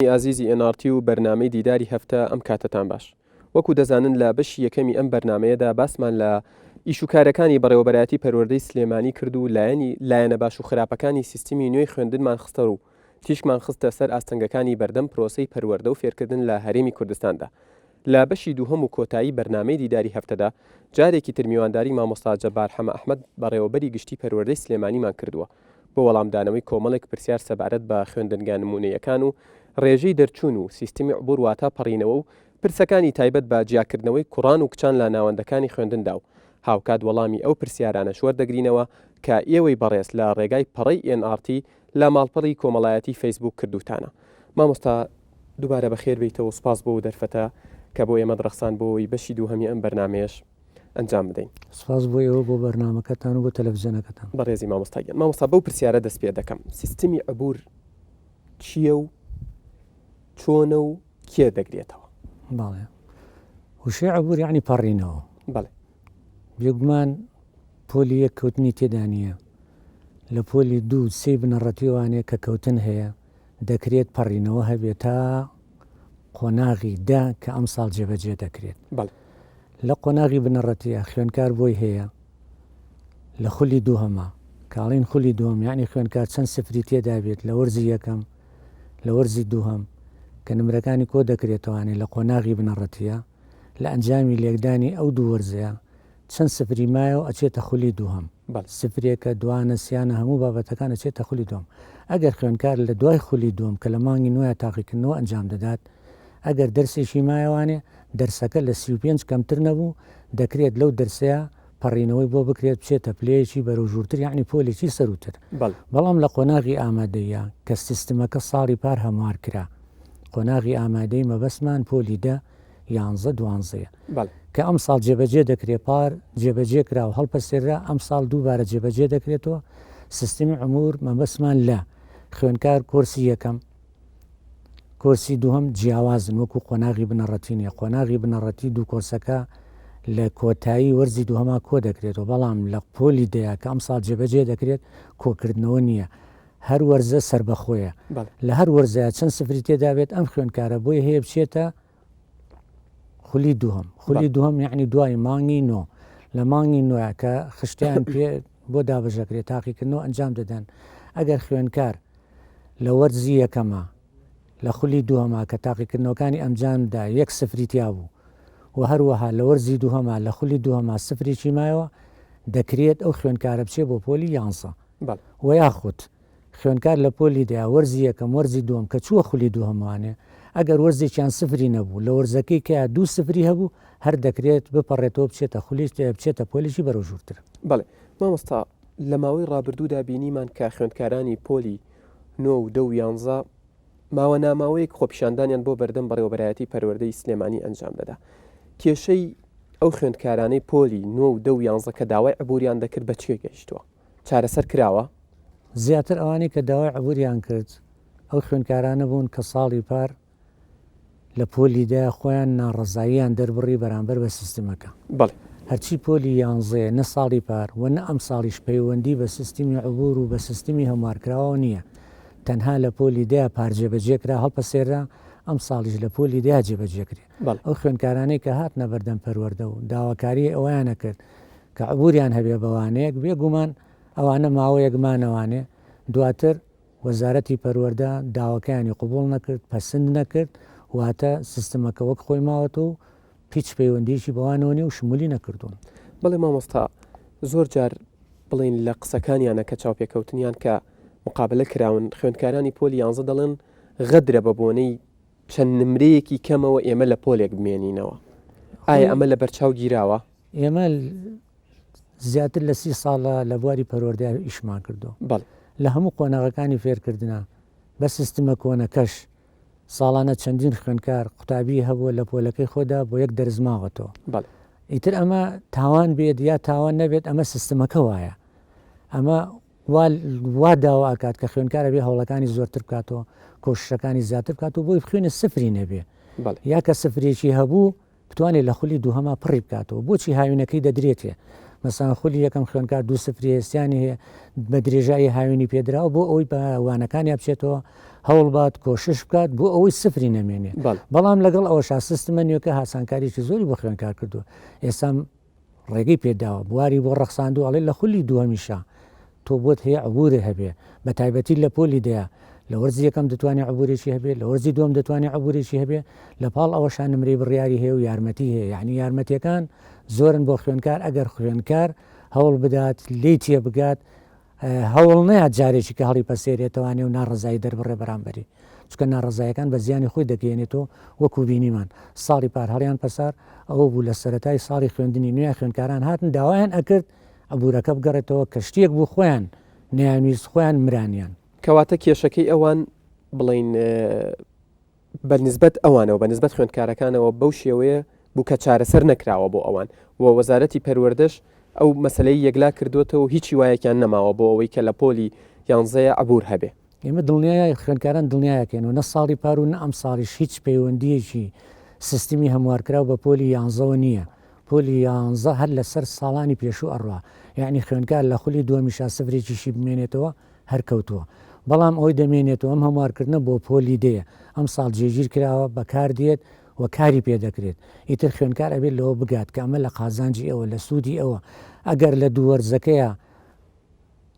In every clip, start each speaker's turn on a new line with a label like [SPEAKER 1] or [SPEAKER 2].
[SPEAKER 1] بەرنامەی ئازیزی ئێن ئاڕ تی و بەرنامەی دیداری هەفتە ئەم کاتەتان باش. وەکو دەزانن لە بەشی یەکەمی ئەم بەرنامەیەدا باسمان لە ئیش و کارەکانی بەڕێوەبەرایەتی پەروەردەی سلێمانی کرد و لایەنی لایەنە باش و خراپەکانی سیستمی نوێی خوێندنمان خستەڕوو تیشکمان خستە سەر ئاستەنگەکانی بەردەم پرۆسەی پەروەردە و فێرکردن لە هەرێمی کوردستاندا لە بەشی دووهەم و کۆتایی بەرنامەی دیداری هەفتەدا جارێکی تر میوانداری مامۆستا جەبار حەمە ئەحمەد بەڕێوەبەری گشتی پەروەردەی سلێمانیمان کردووە بۆ وەڵامدانەوەی کۆمەڵێک پرسیار سەبارەت بە خوێندنگا نموونەییەکان و ڕێژەی دەرچوون و سیستمی عبور واتا پەڕینەوە و پرسەکانی تایبەت بە جیاکردنەوەی کوڕان و کچان لە ناوەندەکانی خوێندندا و هاوکات وەڵامی ئەو پرسیارانەش وەردەگرینەوە کە ئێوەی بەڕێز لە ڕێگای پەڕەی ئێن ئاڕ تی لە ماڵپەڕی کۆمەڵایەتی فەیسبووک کردووتانە. مامۆستا دووبارە بەخێر بێیتەوەو سوپاس بۆ ئەودەرفەتە کە بۆ ئێمەت ڕەخساند بۆ ئەوەی بەشی دووهەمی ئەم بەرنامەیەش ئەنجام بدەین. سوپاس بۆ ئێوە بۆ
[SPEAKER 2] بەرنامەکەتان و بۆ تەلەفزیۆنەکەتان. بەڕێزی مامۆستا گیان.
[SPEAKER 1] مامۆستا بەو پرسیارە دەست پێ دەکەم سیستمی عبور چیە و چۆنە و کێ دەگرێتەوە؟ بەڵێ.
[SPEAKER 2] وشەی عبور یەعنی پەڕینەوە. بەڵێ.
[SPEAKER 1] بێگومان
[SPEAKER 2] پۆلی یەک کەوتنی تێدا نییە، لە پۆلی دوو سێی بنەڕەتی وانەیە کە کەوتن هەیە، دەکرێت پەڕینەوە هەبێت تا قۆناغی دە کە ئەمساڵ جێبەجێ دەکرێت. لە قۆناغی بنەڕەتییە خوێندکار بۆی هەیە لە خولی دووهەما، کە ئەڵێین خولی دووهەم یانی خوێندکار چەند سفری تێدا بێت لە وەرزی یەکەم، لە وەرزی دووهەم کە نمرەکانی کۆ دەکرێتەوە یانی لە قۆناغی بنەڕەتییە، لە ئەنجامی لێکدانی ئەو دوو وەرزەیا چەند سفری مایەو ئەچێتە خولی دووهەم بەڵێ سفرێکە دوانە سیانە هەموو بابەتەکان ئەچێتە خولی دووەم ئەگەر خوێندکار لە دوای خولی دووەم کە لە مانگی نۆیا تاقیکردنەوە ئەنجام دەدات ئەگەر دەرسێکی مایەوانێ دەرسەکە لە سی و پێنج کەمتر نەبوو دەکرێت لەو دەرسەیا پەڕینەوەی بۆ بکرێت بچێتە پلەیەکی بەرەو ژوورتر یانی پۆلێکی سەرووتر بەڵام لە قۆناغی ئامادەیە کە سیستمەکە ساڵی پار هەموار کرا قۆناغی ئامادەی مەبەستمان پۆلی دە یانزە دوانزەیە کە ئەم ساڵ جێبەجێ دەکرێت پار جێبەجێ کرا و هەڵپەسێرا ئەم ساڵ دووبارە جێبەجێ دەکرێتەوە سیستمی عمور مەبەستمان لە خوێنکار کۆرسی یەکەم کۆرسی دووهەم جیاوازن وەکو قۆناغی بنەڕەتی نیە قۆناغی بنەڕەتی دوو کۆرسەکە لە کۆتایی وەرزی دووهەما کۆ دەکرێتەوە بەڵام لە پۆلی دەیە کە ئەمساڵ جێبەجێ دەکرێت کۆکردنەوە نییە هەر وەرزە سربەخۆیە لە هەر وەرزە چەند سفری تێدابێت ئەم خوێنکارە بۆی هەیە بچێتە خولی دووەم خولی دووەم یعنی دوای مانگی نۆ لە مانگی نوۆە کە خشتیان پێ بۆ دابژەکرێت تاقیکردنەوە ئەنجام دەدەن ئەگەر خوێنکار لە وەرزی یەکەمە لە خولی دووەما کە تاقیکردنەوەکانی ئەنجامدا یەک سفری تیا بوو و هەروەها لە وەرزی دووهەما لە خولی دووهەما سفرێکی مایەوە دەکرێت ئەو خوێنکارە بچێ بۆ پۆلی یانسە و یاخود خوێندکار لە پۆلی دەیا وەرزی یەکەم وەرزی دووەم کە چووە خولی دووهەموانێ ئەگەر وەرزێکیان سفری نەبوو لە وەرزەکەی کەیا دوو سفری هەبوو هەر دەکرێت بپەڕێتەوە بچێتە خولیش بچێتە پۆلیشی بەرەو ژوورتر. بەڵێ
[SPEAKER 1] مامۆستا لە ماوەی ڕابردوودا بینیمان کە خوێندکارانی پۆلی نۆ و دە و یانزە ماوە ناماوەیەک خۆپیشاندانیان بۆ بەردەم بەڕێوەبەرایەتی پەروەردەی سلێمانی ئەنجام دەدا کێشەی ئەو خوێندکارانەی پۆلی نۆ و دە و یانزە کە داوای عبوریان دەکرد بە چێ گەیشتووە؟ چارەسەر کراوە؟ زیاتر
[SPEAKER 2] ئەوانەی کە داوای عبوریان کرد ئەو خوێندکارانە بوون کە ساڵی پار لە پۆلی دە خۆیان ناڕەزاییان دەربڕی بەرامبەر بە سیستمەکە. بەڵێ. هەرچی پۆلی یانزەیە نە ساڵی پار و نە ئەمساڵیش پەیوەندی بە سیستمی عبور و بە سیستمی هەموارکراوەوە نییە. تەنها لە پۆلی دە پار جێبەجێ کرا هەڵپەسێررا، ئەمساڵیش لە پۆلی دە جێبەجێ کرێ. بەڵێ. ئەو خوێندکارانەی کە هاتنە بەردەم پەروەردە و داواکاریی ئەوەیانە کرد کە عبوریان هەبێ بە وانەیەک، بێ گومان ئەوانە ماوەیەک مانەوانێ، دواتر وەزارەتی پەروەردە داواکەیانی قبوڵ نەکرد، پەسند نەکرد، واتە سیستمەکە وەک خۆی ماوەتەوە و هیچ پەیوەندییەکی بەوانەوە نییە و شمولی نەکردوون. بەڵێ مامۆستا،
[SPEAKER 1] زۆر جار بڵێین لە قسەکانیانە کە چاوپێکەوتنیان کە مقابلە کراون، خوێندکارانی پۆلی یانزە دەڵێن غەدرە بە بۆنەی چەند نمرەیەکی کەمەوە ئێمە لە پۆلێک بمێنینەوە، ئایا ئەمە لەبەرچاو گیراوە؟ ئێمە
[SPEAKER 2] زیاتر لە سی ساڵە لە بواری پەروەردە ئیشمان کردووە لە هەموو قۆناغەکانی فێرکردنا بە سیستمە کۆنەکەش ساڵانە چەندین خوێنکار قوتابی هەبووە لە پۆلەکەی خۆدا بۆ یەک دەرزماوەتەوە ئیتر ئەمە تاوان بێت یا تاوان نەبێت ئەمە سیستمەکە وایە ئەمە وا داوا ئاکات کە خوێنکارە بێ هەوڵەکانی زۆرتر بکاتەوە کۆششەکانی زیاتر بکات و بۆی خوێنە سفری نەبێ یا کە سفرێکی هەبوو بتوانێت لە خولی دووهەما پڕی بکاتەوە بۆچی هاوینەکەی دەدرێتێ مەسان خولی یەکەم خوێنکار دوو سفری هێستیانی هەیە بە درێژایی هاوینی پێدراوە بۆ ئەوەی بە وانەکانی بچێتەوە هەوڵبات کۆشش بکات بۆ ئەوەی سفری نەمێنێ بەڵام لەگەڵ ئەوە شاسستمە نوێکە هاسانکاریی زۆری بۆ خوێنکار کردو ئێستا ڕێگەی پێداوە بواری بۆ ڕەخساندوە ئەڵێ لە خولی دووەمیشا تۆ بۆت هەیە عبورێ هەبێ بە تایبەتی لە پۆلی دەیە لە وەرزی یەکەم دەتوانێت عبورێکی هەبێ لە وەرزی دوم دەتوانێت عبورێکی هەبێ لە پاڵ ئەوەشان نمرەی بڕیاری هەیە و یارمەتی هەیە یعنی یارمەتیەکان زۆرن بۆ خوێنکار ئەگەر خوێنکار هەوڵ بدات لی تێ بگات هەوڵ نەیات جارێکیکە هەڵیپەسێرێتەوە نێو ناڕەزایی دەربڕێ بەرامبەری، چونکە ناڕەزایەکان بە زیانی خۆی دەگەیەنێت و وەکو بینیمان ساڵی پار هەڵیان پەسار، ئەوە بوو لە سەرەتای ساڵی خوێندنی نوێ خوێندکاران هاتن داوایان ئەکرد عبورەکە بگەڕێتەوە کە شتێک بوو خۆیان نەیانویست خۆیان مرانیان. کەواتە کێشەکەی
[SPEAKER 1] ئەوان بڵێین بە نسبەت ئەوانەوە، بە نسبەت خوێندکارەکانەوە بەو شێوەیە بوو کە چارەسەر نەکراوە بۆ ئەوان و وەزارەتی پەروەردەش ئەو مەسەلەی یەکلا کردووەتەوە و هیچ هیوایەکیان نەماوە بۆ ئەوەی کە لە پۆلی یانزەیە عەبوور هەبێ. ئێمە دڵنیای
[SPEAKER 2] خوێندکاران دڵنیاکەین و نە ساڵی پار و نە ئەمساڵیش هیچ پەیوەندییەکی سیستمی هەموارکراو بە پۆلی یانزەوە نییە. پۆلی یانزە هەر لەسەر ساڵانی پێشوو ئەڕوا. یەعنی خوێندکار لە خولی دووەمیشا سفرێکیشی بمێنێتەوە هەر کەوتووە بەڵام ئەوەی دەمێنێت و ئەم هەموارکردنە بۆ پۆلی دەیە ئەمساڵ جێگیر کراوە بەکار دێت و کاری پێ دەکرێت ئیتر خوێندکار ئەبێت لەوە بگات کە ئەمە لە قازانجی ئەوە لە سوودی ئەوە ئەگەر لە دوو وەرزەکەیا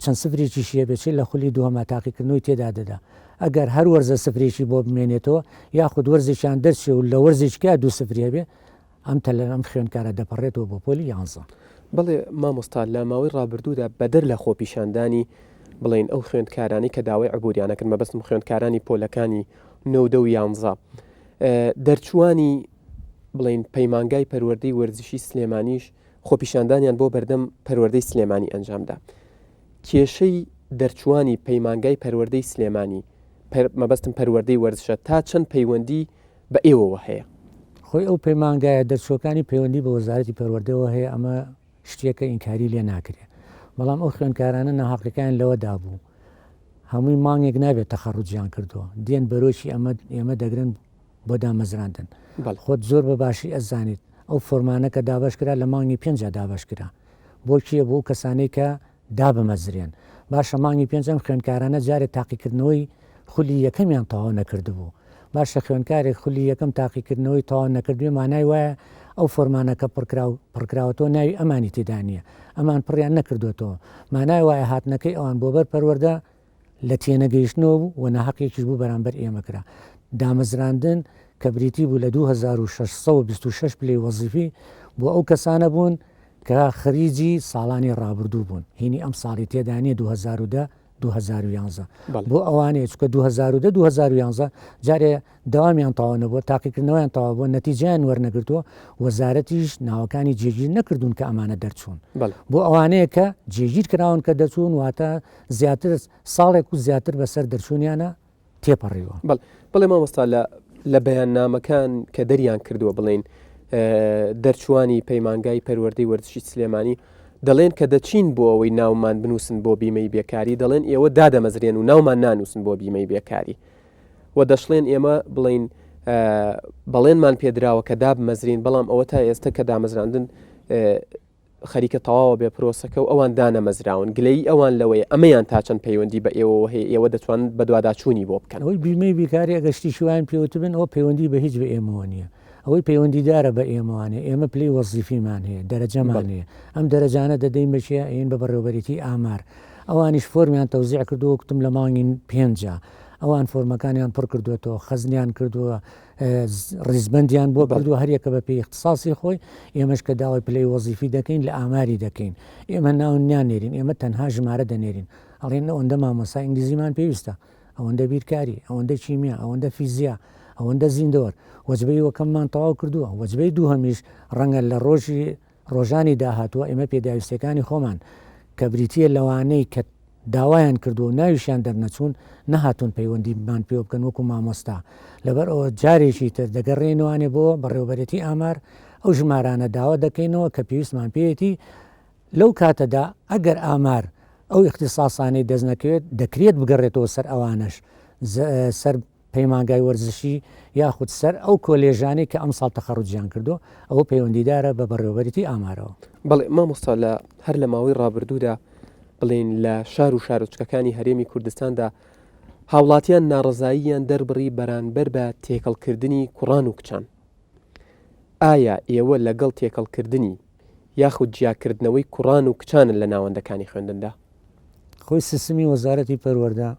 [SPEAKER 2] چەند سفرێکیشی هەبێت چ لە خولی دووهەما تاقیکردنەوەی تێدا دەدا ئەگەر هەر وەرزە سفرێکی بۆ بمێنێتەوە یاخود وەرزێکیان دەرچێ و لە وەرزێکیا دوو سفری هەبێ ئەم تەلەر ئەم خوێندکارە دەپەڕێتەوە بۆ پۆلی یانزە. بەڵێ
[SPEAKER 1] مامۆستا لە ماوەی ڕابردوودا بەدەر لە خۆپیشاندانی بڵێین ئەو خوێندکارانەی کە داوای عبوریانە کرد مەبەستم خوێندکارانی پۆلەکانی نۆ دە و یانزە دەرچوانی بڵین پەیمانگای پەروەردەی وەرزشی سلێمانیش خۆپیشاندانیان بۆ بەردەم پەروەردەی سلێمانی ئەنجامدا کێشەی دەرچوانی پەیمانگای پەروەردەی سلێمانی مەبەستم پەروەردەی وەرزشە تا چەند پەیوەندی بە ئێوەوە هەیە. خۆی ئەو
[SPEAKER 2] پەیمانگایە دەرچووەکانی پەیوەندی بە وەزارەتی پەروەردەوە هەیە، ئەمە شتێکە ئینکاری لێ ناکرێت، بەڵام ئەو خوێندکارانە ناهەقیەکەیان لەوەدا بوو هەمووی مانگێک نابێت تەخەڕوجیان کردووە، دێن بەرۆکی ئەمە ئێمە دەگرن بۆ دامەزراندن خۆت زۆر بە باشی ئەزانیت ئەو فۆرمانە کە دابش کرا لە مانگی پێنج دابش کرا بۆ کیە بۆ کەسانی کە دابمەزرێن. باشە مانگی پێنج ئەم خوێندکارانە جارێ تاقیکردنەوەی خولی یەکەمیان تەواو نەکردبوو، باشە خوێندکارێک خولی یەکەم تاقیکردنەوەی تەواو نەکردبێ مانای وایە ئەو فۆرمانە کە پڕکراو پڕکراوەتەوە ناوی ئەمانی تێدا نییە، ئەمان پڕیان نەکردۆتەوە، مانای وایە هاتنەکەی ئەوان بۆ بەر پەروەردە لە تێنەگەیشتنەوە بوو و ناهەقێکیش بوو بەرامبەر ئێمە کرا. دامەزراندن کە بریتی بوو لە دوو هەزار و شەش سەد و بیست و شەش پلەی وەزیفی بۆ ئەو کەسانە بوون کە خەریجی ساڵانی ڕابردوو بوون، هینی ئەمساڵی تێدا نییە دوو هەزار و دە دوو هەزار و یانزە بۆ ئەوانەیە چونکە دوو هەزار و دە دوو هەزار و یانزە جارێ دەوامیان تەواو نەبووە، تاقیکردنەوەیان تەواو بووە، نەتیجەیان وەرنەگرتووە، وەزارەتیش ناوەکانی جێگیر نەکردوون کە ئەمانە دەرچوون. بۆ ئەوانەیە کە جێگیر کراون کە دەرچوون، واتە زیاتر ساڵێک و زیاتر بەسەر دەرچوونیانە تێپەڕیوە. بەڵێ مامۆستا
[SPEAKER 1] لە بەیاننامەکان کە دەریان کردووە بڵێن دەرچوانی پەیمانگای پەروەردەی وەرزشی سلێمانی دەڵێن کە دەچین بۆ ئەوەی ناومان بنووسن بۆ بیمەی بێکاری دەڵێن ئێوە دادەمەزرێن و ناومان نانووسن بۆ بیمەی بێکاری و دەشڵێن ئێمە بڵێن بەڵێنمان پێدراوە کە دابمەزرین بەڵام ئەوە تا ئێستا کە دامەزراندن خەریکە تەواوە بێ پرۆسەکە و ئەوان دانەمەزراون گلەی ئەوان لەوەی ئەمەیان تا چەند پەیوەندی بە ئێوە هەیە ئێوە دەتوان بە دوواداچوونی بۆ بکەن ئەوەی بیمەی بیکاری
[SPEAKER 2] ئەگەشتی شوان پێوتبن ئەو پەیوەندی بە هیچ بە ئێمەوە نییە ئەوەی پەیوەندیدارە بە ئێمەوانێ ئێمە پلی وەزیفیمان هەیە دەرەجەمان هەیە ئەم دەرەجانە دەدەین بەشیە ئەین بە بەڕێوبەرێتی ئامار ئەوانیش فۆرمیان تەوزیع کردو وەکتم لە مانگین پێنجە ئەوان فۆرمەکانیان پڕ کردوێتەوە خەزنیان کردووە ڕیزبندیان بۆ بردو هەریەکە بە پێی اختصاسی خۆی ئێمەش کە داوای پلەی وەزیفی دەکەین لە ئاماری دەکەین ئێمە ناو نانێرین ئێمە تەنها ژمارە دەنێرین ئەڵێن ئەوەندە مامۆسا ئینگلیزیمان پێویستە ئەوەندە بیرکاری ئەوەندە کیمیا ئەوەندە فیزیا ئەوەندە زیندەوەر وەجبەی وەکەممان تەواو کردووە وەجبەی دووهمیش ڕەنگە لە ڕۆژی ڕۆژانی داهاتوو ئێمە پێداویستیەکانی خۆمان کە بریتییە لەوانەی کە داوایان کردووە و ناویشیان دەرنەچوون، نەهاتوون پەیوەندیمان پێوە بکەن وەکو مامۆستا، لەبەر ئەوە جارێکی تر دەگەڕێینەوانێ بۆ بەڕێوەبەرێتی ئامار، ئەو ژمارانە داوا دەکەینەوە کە پێویستمان پێیەتی، لەو کاتەدا ئەگەر ئامار ئەو ئیختیساسانەی دەستنەکەوێت، دەکرێت بگەڕێتەوە سەر ئەوانەش سەر پەیمانگای وەرزشی یاخود سەر ئەو کۆلێژانەی کە ئەمساڵ تەخەڕوجیان کردو ئەوە پەیوەندیدارە بە بەڕێوەبەریی ئامارەوە. بەڵێ مامۆستا
[SPEAKER 1] لە هەر لە ماوەی ڕابردوودا بڵێین لە شار و شارۆچکەکانی هەرێمی کوردستاندا هاوڵاتیان ناڕزاییان دەربڕی بەرانبەر بە تێکەڵکردنی کوڕان و کچان ئایا ئێوە لەگەڵ تێکەڵکردنی یاخود جیاکردنەوەی کوڕان و کچانن لە ناوەندەکانی خوێندندا خۆی
[SPEAKER 2] سیستمی وەزارەتی پەروەردە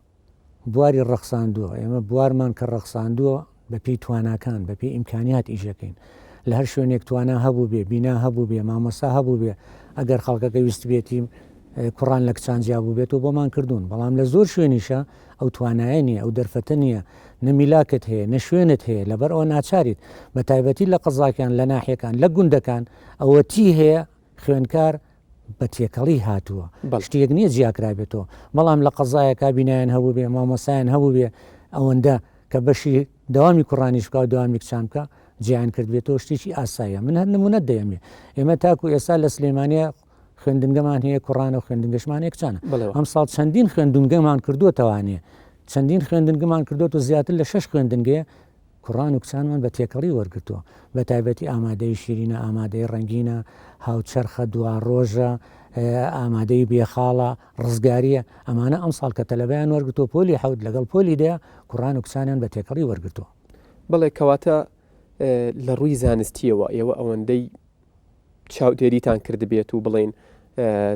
[SPEAKER 2] بواری ڕەخساندووە، ئێمە بوارمان کە ڕەخساندووە بە پێی تواناکان، بە پێی ئیمکانیات ئیش دەکەین. لە هەر شوێنێک توانا هەبووبێ، بینا هەبووبێ، مامۆستا هەبووبێ، ئەگەر خەڵکەکە ویستبێتی کوڕان لە کچان جیا بووبێتەوە بۆمان کردوون، بەڵام لە زۆر شوێنیشە ئەو توانایە نییە، ئەو دەرفەتە نییە، نە میلاکت هەیە، نە شوێنت هەیە، لەبەر ئەوە ناچاریت، بە تایبەتی لە قەزاکان، لە ناحیەکان، لە گوندەکان ئەوەتی هەیە خوێندکار بە تێکەڵی هاتووە شتێک نییە جیاکرابێتەوە بەڵام لە قەزایە کابینایان هەبوو بێ مامۆسایان هەبوو بێ ئەوەندە کە بەشی داوامی کوڕانیش بکە و داوامی کچان بکە جیان کردبێتەوە شتێکی ئاسایە من هەر نمونەت دەیەمێ ئێمە تاکو ئێستا لە سلێمانە خوێندنگەمان هەیە کوڕانە و خوێندنگەشمانێک چانە ئەم ساڵ چەندین خوێندنگەمان کردووە تەوانێ چەندین خوێندنگەمان کردووە و زیاتر لە شش خوێندنگەیە کوڕان و کچانمان بە تێکەڵی وەرگرتووە، بە تایبەتی ئامادەیی شیرینە، ئامادەیی ڕەنگینە، هاوچەرخە، دواڕۆژە، ئامادەیی بێ خاڵە، ڕزگارییە، ئەمانە ئەمساڵ کە تەلەبەیان وەرگرتووە پۆلی حەوت لەگەڵ پۆلی دە کوڕان و کچانیان بە تێکەڵی وەرگرتووە. بەڵێ کەواتە
[SPEAKER 1] لە ڕووی زانستییەوە ئێوە ئەوەندەی چاودێریتان کردبێت و بڵێین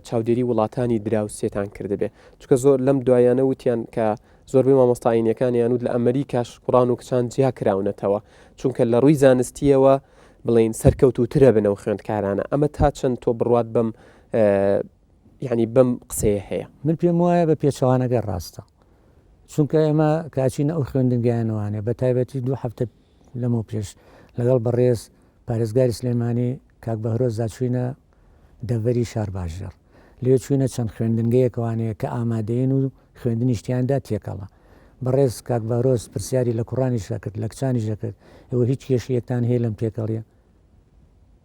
[SPEAKER 1] چاودێری وڵاتانی دراوسێتان کردبێ چکە زۆر لەم دوایانە وتیان کە زۆربەی مامۆستاینەکانیان وت لە ئەمریکاش کوڕان و کچان جیا کراونەتەوە چونکە لە ڕووی زانستیەوە بڵین سەرکەوت و ترە بنەوە خوێندکارانە ئەمە تا چەند تۆ بڕوات بم ینی بم قسەیە هەیە من پێم وایە بە
[SPEAKER 2] پێچوانەکە ڕاستە چونکە ئێمە کاچینە ئەو خوێندنگەیانوانێ بە تایبەتی دوو هەفتە لەمە پێش لەگەڵ بەڕێز پارێزگاری سلێمانی کاک بەهرۆز دا چووینە دەڤەری شارباژێڕ لەوێ چووینە چەند خوێندنگەیەکەوان هەیە کە ئامادەین و خوێندنیش تیاندا تێکەڵە بەڕێز کاک بەهرۆز پرسیاری لە کوڕانیش دەکرد لە کچانیش دەکرد ئێوە هیچ کێشەیەکتان هەیە لەم تێکەڵیە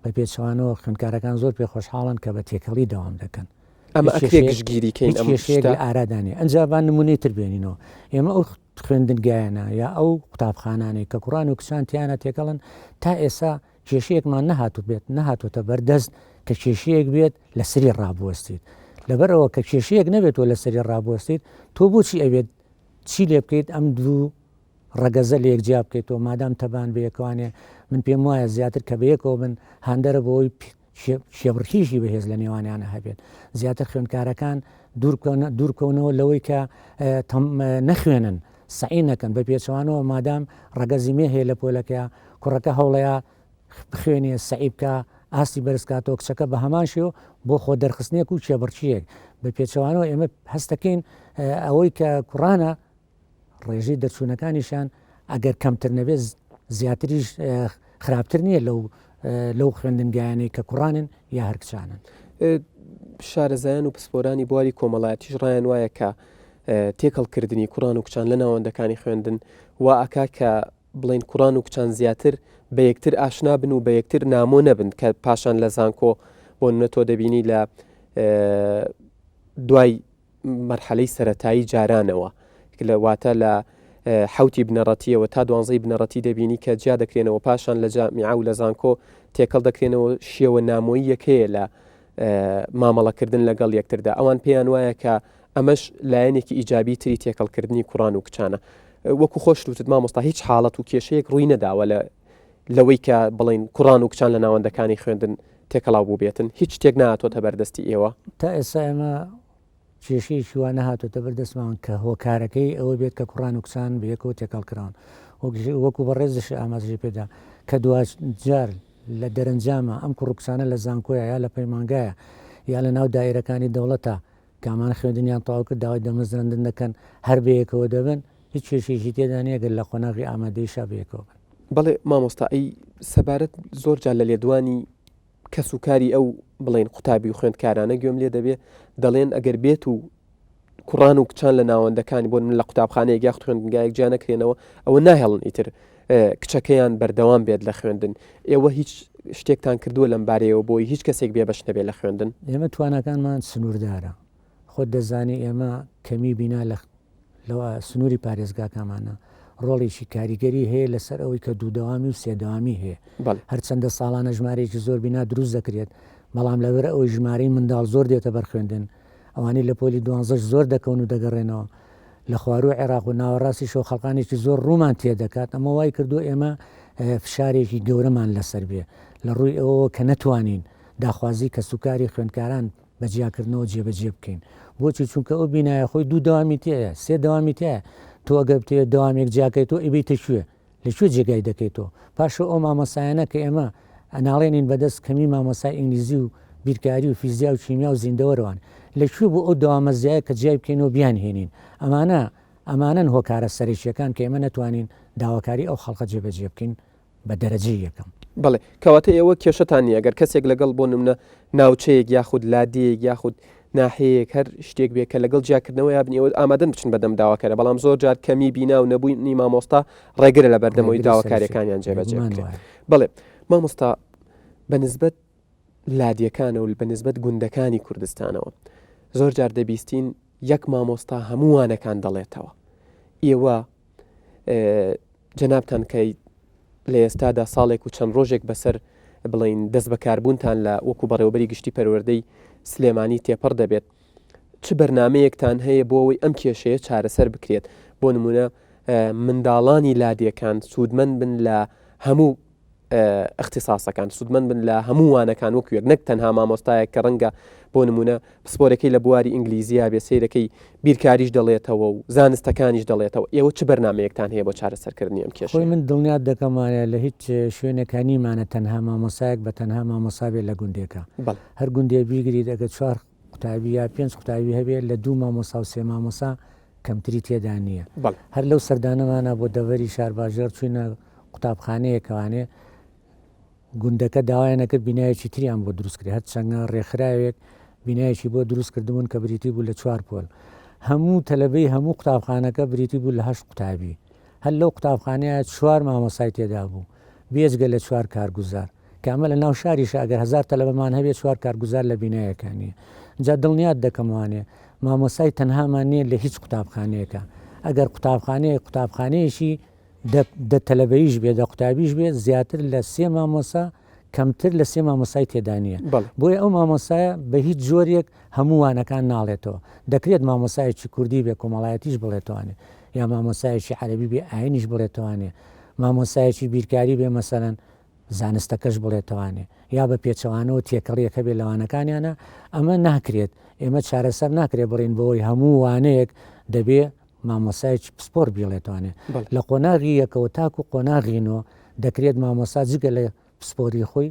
[SPEAKER 2] بە پێچەوانەوە خوێندکارەکان زۆر پێ خۆشحاڵن کە بە تێکەڵی دەوام دەکەن ئەمە هیچ ئەکرێ کێشەیەک
[SPEAKER 1] گشتگیریکەین هیچ ئەم کێشەیەک شتە لە
[SPEAKER 2] ئارادانێ ئەنجا با نمونەی تر بێنینەوە ئێمە ئەو خوێندنگایانە یا ئەو قوتابخانانەی کە کوڕان و کچان تیانا تێکەڵن تا ئێسا کێشەیەکمان نەهاتوبێت نەهاتۆتە بەر دەست کە کێشەیەک بێت لە سری ڕابوەستیت لەبەرەوە کە کێشەیەک نەبێتەوە لە سری ڕابوەستیت تۆ بۆچی ئەوێت چی لێ بکەیت ئەم دوو ڕەگەزە لە یەکجیا بکەیتەوە مادام تەبان بەیەکوانێ من پێم وایە زیاتر کە بەیەکەوە بن هاندەرە بۆی کێبڕکێیشی بەهێز لە نێوانیانە هەبێت زیاتر خوێندکارەکان دوورکەونەوە لەوەی کە نەخوێنن سعی نەکەن بە پێچوانەوە مادام ڕگەزی مێ هەیە لە پۆلەکە کوڕەکە هەوڵەیە بخوێنێ سعی بکە ئاستی بەرزکاتەوە کچەکە بە هەمان شێو بۆ خۆ دەرخستنێک و کێبڕچیەک بە پێچوانەوە ئێمە هەستەکەین ئەوەی کە کوڕانە ڕێژەی دەرچوونەکانیشیان ئەگەر کەمتر نەبێت زیاتریش خراپتر نییە لەو لەو خوێندنگایانەی کە کوڕانن یا هەرکچانن.
[SPEAKER 1] شارەزایان و پسپۆرانی بواری کۆمەڵایەتیش ڕایان وایە کە تێکەڵکردنی کوڕان و کچان لە ناوەندەکانی خوێندن و ئاکا کە بڵین کوڕان و کچان زیاتر بە یەکتر ئاشنا بن و بە یەکتر نامۆ نەبن کە پاشان لە زانکۆ بۆ نە تۆ دەبینی لە دوای مەرحەلەی سەرەتایی جارانەوە لە واتە لە حوتی بنەڕەتیەوە تا دوانزەی بنەڕەتی دەبینی کە جیا دەکرێنەوە پاشان لە جامیعا و لە زانکۆ تێکەڵ دەکرێنەوە شێوە نامۆیی یەکەیە لە مامەڵەکردن لەگەڵ یەکتردا ئەوان پێیان وایە کە ئەمەش لایەنێکی ئیجابی تری تێکەڵکردنی کوڕان و کچانە وەکو خۆشتوتت مامۆستا هیچ حاڵەت و کێشەیەک ڕووی نەداوە لە لەوەی کە بڵێن کوڕان و کچان لە ناوەندەکانی خوێندن تێکەڵاو بووبێتن هیچ شتێک ناتۆتە بەردەستی ئێوە تا ئێسا ئێمە
[SPEAKER 2] کێشەیەکی وا نەهاتۆتە بەردەستمان کە هۆکارەکەی ئەوە بێت کە کوڕان و کچان بەیەکەوە تێکەڵ کراون وەکو بەڕێزشی ئاماژی پێدا کە دواش جار لە دەرەنجامە ئەم کوڕکسانە لە زانکۆیە یا لە پەیمانگایە یا لە ناو دایرەکانی دەوڵەتە کامان خوێندنیان تەواو کرد داوای دەمەزراندن دەکەن هەر بەیەکەوە دەبن هیچ کێشەیەکی تێدا نیە گەر لە قۆناغی ئامادەیشا بەیەکەوە بن. بەڵێ مامۆستا ئەی
[SPEAKER 1] سەبارەت زۆر جار لە لێدوانی کەس و کاری ئەو بڵێن قوتابی و خوێندکارانە گوێم لێ دەبێ دەڵێن ئەگەر بێت و کوڕان و کچان لە ناوەندەکانی بۆن من لە قوتابخانەیەک یاخت خوێندنگایەک جیا نەکرێنەوە ئەوە ناهێڵن ئیتر کچەکەیان بەردەوام بێت لە خوێندن ئێوە هیچ شتێکتان کردووە لەم بارەیەوە بۆی هیچ کەسێک بێبش نەبێت لە خوێندن ئێمە توانەکانمان
[SPEAKER 2] سنووردارە خۆت دەزانانی ئێمە کەمی بینا لە لەوە سنووری پارێزگاکەمانە ڕۆڵێکی کاریگەری هەیە لەسەر ئەوەی کە دووداوامی و سێداوامی هەیە هەرچەندە ساڵانە ژمارەیەکی زۆر بینا دروست دەکرێت بەڵام لەبەر ئەوەی ژمارەی منداڵ زۆر دێتە بەرخوێندن ئەوانەی لە پۆلی دوانزەش زۆر دەکەون و دەگەڕێنەوە لە خوارووی عێراق و ناوەڕاستیشەوە خەڵکانێکی زۆر ڕوومان تێدەکات، ئەمە وای کردووە ئێمە فشارێکی گەورەمان لەسەر بێ، لە ڕووی ئەوەوە کە نەتوانین داخوازی کەسوکاری خوێندکاران بە جیاکردنەوە جێبەجێ بکەین. بۆچی؟ چونکە ئەو بینایە خۆی دوو دەوامی تێیە، سێ دەوامی تێیە، تۆ ئەگەر بتەوێت دەوامێک جیاکەیتەوە ئەیبەیتە کوێ؟ لە کوێ جێگای دەکەیتەوە؟ پاشەو ئەو مامۆستایانە کە ئێمە ئەناڵێنین بە دەست کەمی مامۆستای ئینگلیزی و بیرکاری و فیزیا و کیمیا و زیندەوەرەوان لە کوێ بوو ئەو دەوامەزیایە کە جیای بکەینەوە بیانهێنین؟ ئەمانە ئەمانەن هۆکارە سەرەکییەکان کە ئێمە نەتوانین داواکاری ئەو خەڵکە جێبەجێ بکەین بە دەرەجەی یەکەم. بەڵێ، کەواتە
[SPEAKER 1] ئێوە کێشەتان نییە گەر کەسێک لەگەڵ بۆ نمونە ناوچەیەک یاخود لادێیەک یاخود ناحیەیەک هەر شتێک بێ کە لەگەڵ جیاکردنەوە یابنی ئەوە ئامادەن بچن بەردەم داواکارە بەڵام زۆر جار کەمی بینا و نەبوونی مامۆستا ڕێگرە لە بەردەمەوەی داواکاریەکانیان جێبەجێ بکرێت بڵێ مامۆستا بە نسبەت لادیەکانە و بە نسبەت گوندەکانی کوردستانەوە زۆر جار دەبیستین یەک مامۆستا هەمووانەکان دەڵێتەوە ئێوە جەنابان کە لە ئێستادا ساڵێک و چەند ڕۆژێک بەسەر بڵین دەست بەکاربوونتان لە وەکو بەڕێوبەری گشتی پەروەردەی سلێمانی تێپەڕ دەبێت چ بەرنمەیەکتان هەیە بۆ ئەوەی ئەم کێشەیە چارەسەر بکرێت بۆ نمونە منداڵانی لادێکان سوودمەند بن لە هەموو ئیختیساسەکان سوودمەند بن لە هەموو وانەکان وەک وێک نەک تەنها مامۆستایە کە ڕەنگە بۆ نمونە پسپۆرەکەی لە بواری ئینگلیزیە بێ سیرەکەی بیرکاریش دەڵێتەوە و زانستەکانیش دەڵێتەوە ئێوە چ بەرنمەیەکتان هەیە بۆ چارەسەرکردنی ئەم کێشەی من دڵنیات دەکەمانە
[SPEAKER 2] لە هیچ شوێنەکانیمانە تەنها مامۆسایەک بە تەنها مامۆساابێت لە گوندێکە هەر گوندێ بیگریت ئەگە چوار قوتابی یا پێنج قوتابی هەبێت لە دوو مامۆستا و سێ مامۆسا کەمتری تێدا نییە هەر لەو سەردانەمانە بۆ دەڤەری شارباژێڕ چوینە قوتابخانەیەکەوانێ گوندەکە داوایانەکرد بینایەکی تریان بۆ دروستکرێ هەر چەنگە ڕێکخراوێک بینایەکی بۆ دروست کردبوون کە بریتی بوو لە چوار پۆل هەموو تەلەبەی هەموو قوتابخانەکە بریتی بوو لە هەشت قوتابی هەر لەو قوتابخانەیە چوار مامۆسای تێدا بوو بێجگە لە چوار کارگوزار کامە لە ناو شاریشە ئەگەر هەزار تەلەبەمان هەبێ چوار کارگوزار لە بینایەکا نیە جا دڵنیات دەکەم وانیە مامۆستای تەنهامان نیە لە هیچ قوتابخانەیەکا ئەگەر قوتابخانەیەک قوتابخانەیەکی دە دە تەلەبەیش بێ دە قوتابیش بێ زیاتر لە سێ مامۆسا کەمتر لە سێ مامۆستای تێدا نیە بەڵێ بۆیە ئەو مامۆستایە بە هیچ جۆریەک هەموو وانەکان ناڵێتەوە دەکرێت مامۆستایەکی کوردی بێ کۆمەڵایەتیش بڵێتوانێ یا مامۆستایەکی عەرەبی بێ ئاینیش بڵێتوانێ مامۆستایەکی بیرکاری بێ مەسەلەن زانستەکەش بڵێتوانێ یا بە پێچەوانەوە تێکەڵیەک هەبێت لە وانەکانیانا ئەمە ناکرێت ئێمە چارەسەر ناکرێت بڵێن بەوەی هەموو وانەیەک دەبێ مامۆسایەکی پسپۆر بیڵێتوانێت لە قۆناغی یەکەوە تاکو قۆناغی نۆ دەکرێت مامۆسا جگە لە پسپۆری خۆی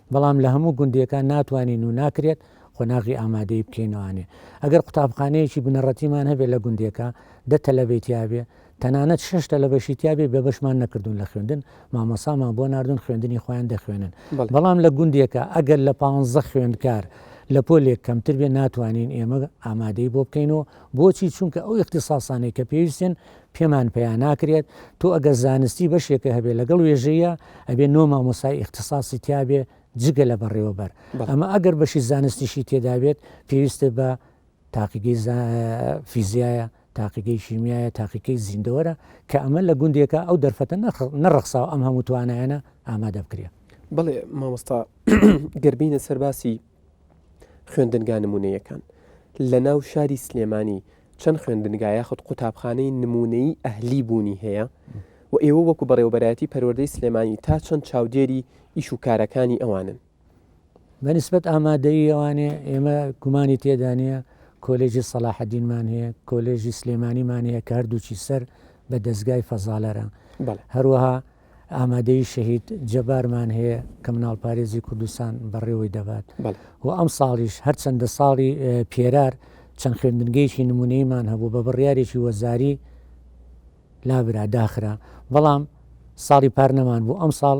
[SPEAKER 2] بەڵام لە هەموو گوندیەکان ناتوانین و ناکرێت قۆناغی ئامادەیی بکەینەوانێ ئەگەر قوتابخانەیەکی بنەڕەتیمان هەبێ لە گوندێکە دە تەلەبەی تیابێ تەنانەت شش تەلەبەشی تیابێ بێ بەشمان نەکردوون لە خوێندن مامۆسامان بۆ ناردون خوێندنی خۆیان دەخوێنن بەڵام لە گوندێکە ئەگەر لە پانزە خوێندکار لە پۆلێک کەمتر بێ ناتوانین ئێمە ئامادەی بۆ بکەین و بۆچی چونکە ئەو اختصاسانەی کە پێویستن پێمان پەیا ناکرێت تۆ ئەگەر زانستی بەشێکە هەبێ لەگەڵ وێژەیە ئەبێ نۆ مامۆسای ئیختساسی تیابێ جگە لە بەڕێوەبەر ئەمە ئەگەر بەشی زانستیشی تێدابێت پێویستە بە تاقیگەی فیزیایە تاقیگەی شیمیایە تاقیکەی زیندەوەرە کە ئەمە لە گوندێکە ئەو دەرفەتە نەڕخساو ئەم هەموو توانایانە ئامادە بکرێت بڵێ مامۆستا
[SPEAKER 1] گەربینە سەرباسی خوێندنگا نموونەییەکان، لەناو شاری سلێمانی چەند خوێندنگا یاخود قوتابخانەی نموونەیی ئەهلی بوونی هەیە و ئێوە وەکو بەڕێوەبەرایەتی پەروەردەی سلێمانی تا چەند چاودێری ئیش و کارەکانی ئەوانن؟ بە
[SPEAKER 2] نسبەت ئامادەیی ئەوانێ ئێمە گومانی تێدا نییە، کۆلێژی سەلاحەدینمان هەیە، کۆلێژی سلێمانیمان هەیە کە هەردووچی سەر بە دەزگای فەزالەرە، هەروەها ئامادەیی شەهید جەبارمان هەیە کە مناڵپارێزی کوردستان بەڕێوەی دەبات و ئەمساڵیش هەرچەندە ساڵی پێرار چەند خوێندنگەیەکی نمونەیمان هەبوو بە بڕیارێکی وەزاری لابرا داخرا بەڵام ساڵی پار نەمان بوو ئەم ساڵ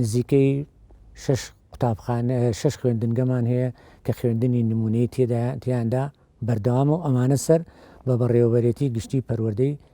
[SPEAKER 2] نزیکەی شش قوتابخانە شش خوێندنگەمان هەیە کە خوێندنی نمونەی تێدایاندا بەردەوامە و ئەمانە سەر بە بەڕێوەبەرێتی گشتی پەروەردەی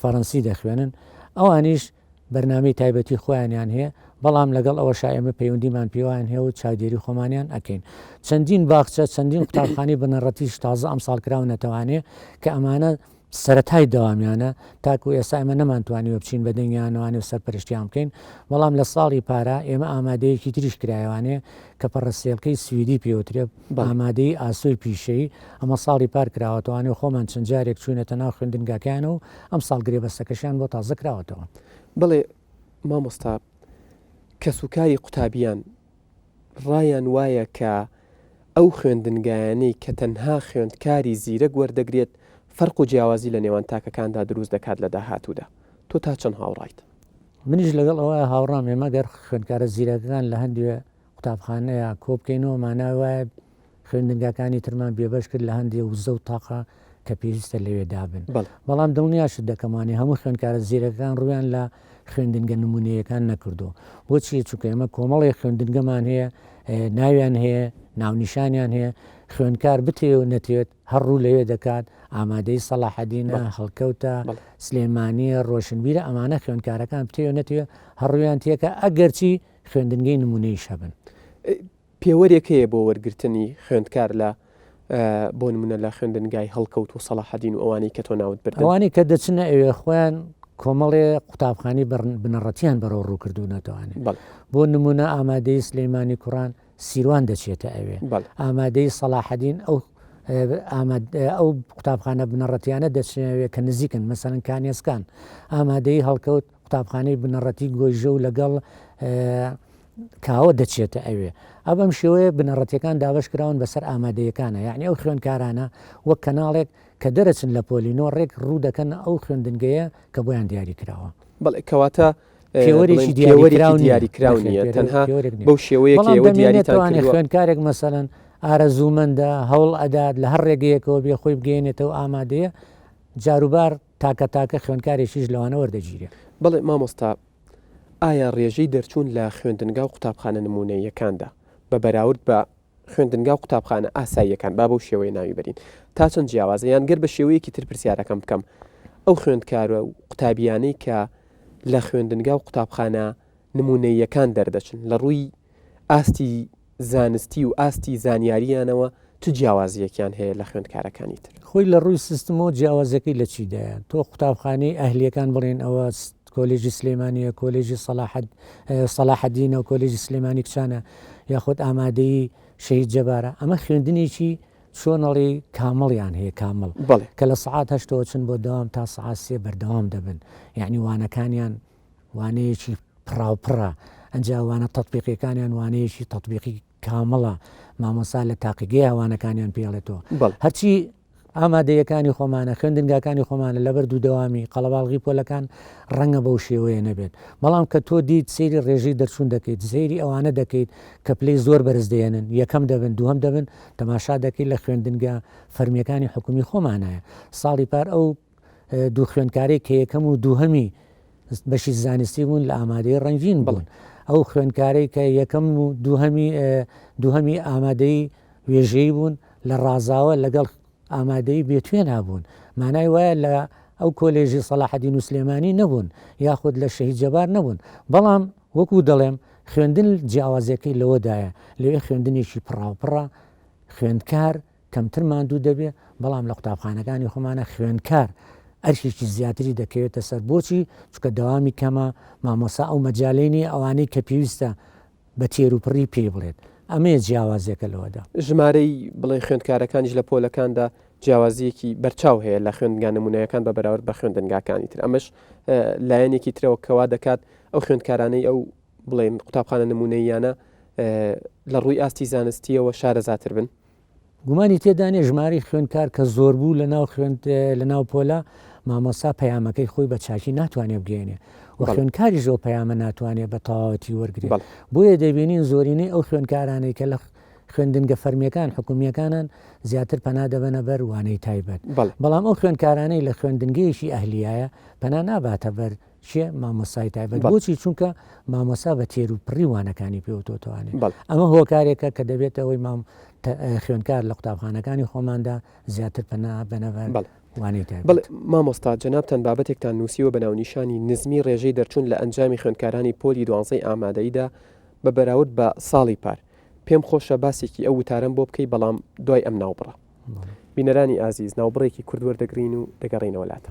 [SPEAKER 2] فەرەنسی دەخوێنن، ئەوانیش بەرنامەی تایبەتی خۆیانیان هەیە، بەڵام لەگەڵ ئەوەشا ئێمە پەیوەندیمان پێوەیان هەیە و چاودێری خۆمانیان ئەکەین. چەندین باخچە، چەندین قوتابخانەی بنەڕەتیش تازە ئەمساڵ کراونەتەوانێ کە ئەمانە سەرەتای دەوامیانە، تاکوو ئێستا ئێمە نەمانتوانیوە بچین بە دەنگیانەوانێ و سەرپەرشتیان بکەین، بەڵام لە ساڵی پارا ئێمە ئامادەیەکی تریش کرایەوانێ کە پەڕەسێلکەی سویدی پێوترێ، ئامادەیی ئاسۆی پیشەیی، ئەمە ساڵی پار کراوەتەوە، ئەنێ خۆمان چەند جارێک چووینەتە ناو خوێندنگاکەیانەوە و ئەمساڵ گرێبەستەکەشیان بۆ تازە کراوەتەوە. بەڵێ
[SPEAKER 1] مامۆستا، کەسوکاری قوتابییان ڕایان وایە کە ئەو خوێندنگایانەی کە تەنها خوێندکاری زیرەک وەردەگرێت فەرق و جیاوازی لە نێوان تاکەکاندا دروست دەکات لە داهاتوودا، تۆ تا چەند هاوڕایت؟ منیش لەگەڵ
[SPEAKER 2] ئەوە هاوڕام، ئێمە گەر خوێندکارە زیرەکەکان لە هەندێ قوتابخانەیە کۆبکەینەوە مانای وایە خوێندنگاکانی ترمان بێبەش کرد لە هەندێ وزە و تاقە کە پێویستە لەوێ دابن بەڵام دڵنیاشت دەکەم وانەی هەموو خوێندکارە زیرەکەکان ڕوویان لە خوێندنگە نموونەییەکان نەکردووە بۆچی چونکە ئێمە کۆمەڵێ خوێندنگەمان هەیە ناویان هەیە ناونیشانیان هەیە خوێندکار بتێ و نەتێت هەر ڕوو لەوێ دەکات ئامادەی سەلاحەدینە هەڵکەوتە سلێمانیە ڕۆشنبیرە ئەمانە خوێندکارەکان بتێ و نەتێ هەڕویان تێکە ئەگەرچی خوێندنگەی نموونەییش هەبن. پێوەرێک
[SPEAKER 1] هەیە بۆ وەرگرتنی خوێندکار لە بۆ نمونە لە خوێندنگای هەڵکەوت و سەڵاحەدین و ئەوانەی کە تۆ ناوت بردن؟ ئەوانەی کە دەچنە ئەوێ
[SPEAKER 2] خۆیان کۆمەڵێ قوتابخانەی بنەڕەتیان بەرەو ڕوو کردوونەتەوانێ بۆ نمونە ئامادەی سلەیمانی کوڕان سیروان دەچێتە ئەوێ ئامادەی سەڵاحەدین ئەو ئەو قوتابخانە بنەڕەتیانە دەچێنەوێ کە نزیکن مەسەرەن کانێسکان ئامادەی هەڵکەوت قوتابخانەی بنەڕەتی گۆیژە و لەگەڵ کاوە دەچێتە ئەوێ ئەو بەم شێوەیە بنەڕەتەکان دابش کراون بەسەر ئامادەیەکانە یعنی ئەو خوێنکارانە وەک کەناڵێک کە دەرەچن لە پۆلینۆ ڕێک ڕوو دەکەن ئەو خوێندنگەیە کە بۆیان دیاری کراوە بەڵێ کەواتە
[SPEAKER 1] پێوەرێکی دیاریکراون دیاریکراون تەنها بەو شێوەیە دیاریتوانێت خوێنکارێک
[SPEAKER 2] مەسەن ئارەزوومەندە هەوڵ ئەدات لە هەر ڕێگەیەکەوە بێ خۆی بگەێنێتەوە ئامادەیە جاروبار تاکە تاکە خوێندکارێکیش لەوانە وەردەگیرێ. بەڵێ مامۆستا،
[SPEAKER 1] ئایا ڕێژەی دەرچوون لە خوێندنگا و قوتابخانە نموونەییەکاندا، بە بەراورد بە خوێندنگا و قوتابخانە ئاساییەکان، با بەو شێوەیە ناوی بەرین، تا چەند جیاوازە؟ یان گەر بە شێوەیەکی تر پرسیارەکەم بکەم، ئەو خوێندکار و قوتابییانەی کە لە خوێندنگا و قوتابخانە نموونەییەکان دەردەچن، لە ڕووی ئاستی زانستی و ئاستی زانیارییانەوە چ جیاوازییەکیان هەیە لە خوێندکارەکانی تر؟ خۆی لە ڕووی سیستمەوە
[SPEAKER 2] جیاوازییەکەی لە چیدایە؟ تۆ قوتابخانەی ئەهلییەکان بڵێن ئەوە کۆلێژی سلێمانییە، کۆلێژی سەلاحەد سەلاحەدینە، کۆلێژی سلێمانی کچانە یاخود ئامادەیی شەهید جەبارە، ئەمە خوێندنێکی چۆن ئەڵێی کامڵیان هەیە کامڵ، بەڵێ. کە لە سەعات هەشتەوە چن بۆ دەوام تا سەعات سێ بەردەوام دەبن، یانی وانەکانیان وانەیەکی پڕاوپڕە ئەجا وانە تەتبیقیەکانیان وانەیەکی تەطبیقی کامڵە مامۆسا لە تاقیگەی ئەوانەکانیان پێڵێتەوە هەرچی ئامادەیەکانی خۆمانە خوێندنگاکانی خۆمانە لەبەر دوو دەوامی قەڵەباڵغی پۆلەکان ڕەنگە بەو شێوەیە نەبێت بەڵام کە تۆ دیت سری ڕێژەی دەرچوون دەکەیت زێری ئەوانە دەکەیت کە پلەی زۆر بەرز دێنن یەکەم دەبن دووەم دەبن تەماشا دەکەیت لە خوێندنگە فەرمیەکانی حکومی خۆمانایە ساڵی پار ئەو دوو خوێندکارێک کە یەکەم و دووهەمی بەشی زانستی بوون لە ئامادەی ڕنگین بڵن ئەو خوێندکارەی کە یەکەم و دووهەمی دووهەمی ئامادەی وێژەی بوون لە ڕازاوە لەگەڵ ئامادەی بێتوێ نابوون مانای وایە لە ئەو کۆلێژی سەلاحەدی نووسلێمانی نەبوون یاخود لە شەهید جەبار نەبوون بەڵام وەکو دەڵێم خوێندن جیاوازەکەی لەوەدایە لەوێ خوێندنێکی پڕاوپڕە خوێندکار کەمتر ماندوو دەبێت، بەڵام لە قوتابخانەکانی خۆمانە خوێندکار ئەرکێکی زیاتری دەکەوێتە سەر، بۆچی؟ چونکە دەوامی کەمە، مامۆستا ئەو مەجالەی نییە ئەوانەی کە پێویستە بە تێروپڕی پێی بڵێت، ئەمەیە جیاوازییەکە لەوەدا. ژمارەی بڵێ
[SPEAKER 1] خوێندکارەکانیش لە پۆلەکاندا جیاوازییەکی بەرچاو هەیە لە خوێندنگا نموونەیەکان بە بەراورد بە خوێندنگاکانی تر، ئەمەش لایەنێکی ترەوە کە وا دەکات ئەو خوێندکارانەی ئەو بڵێن قوتابخانە نموونەییانە لە ڕووی ئاستی زانستییەوە شارەزاتر بن. گومانی تێدا
[SPEAKER 2] نیە ژمارەی خوێندکار کە زۆر بوو لە ناو خوێند لە ناو پۆلا مامۆسا پەیامەکەی خۆی بە چاکی ناتوانێت بگەێنێ و خوێندکاری زۆر پەیامە ناتوانێت بە تەواوەتی وەرگێ بۆیە دەبینین زۆرینەی ئەو خوێندکارانەی کە لە خوێندنگە فەرمیەکان حکومیەکانان زیاتر پەنا دەبەنە بەر وانەی تایبەت بەڵام ئەو خوێندکارانەی لە خوێندنگەیەکی ئەهلیایە پەنا ناباتە بەر چیە مامۆسای تایبەت بۆچی چونکە مامۆسا بە تێر و پڕی وانەکانی پێوتۆتوانێت ئەمە هۆکارێکە کە دەبێت ئەوەی مام خوێندکار لە قوتابخانەکانی خۆماندا زیاتر پەنا بەنەبەر وانەی بڵ مامۆستا جەنابان
[SPEAKER 1] بابەتێکتان نووسیوە بە ناونیشانی نزمی ڕێژەی دەرچوون لە ئەنجامی خوێندکارانی پۆلی دوانزەی ئامادەیدا بە بەراورد بە ساڵی پار پێم خۆشە باسێکی ئەو وتارم بۆ بکەی بەڵام دوای ئەم ناوبڕە بینەرانی ئازیز ناوبڕێکی کوردوەردەگرین و دەگەڕینەوەلاتە.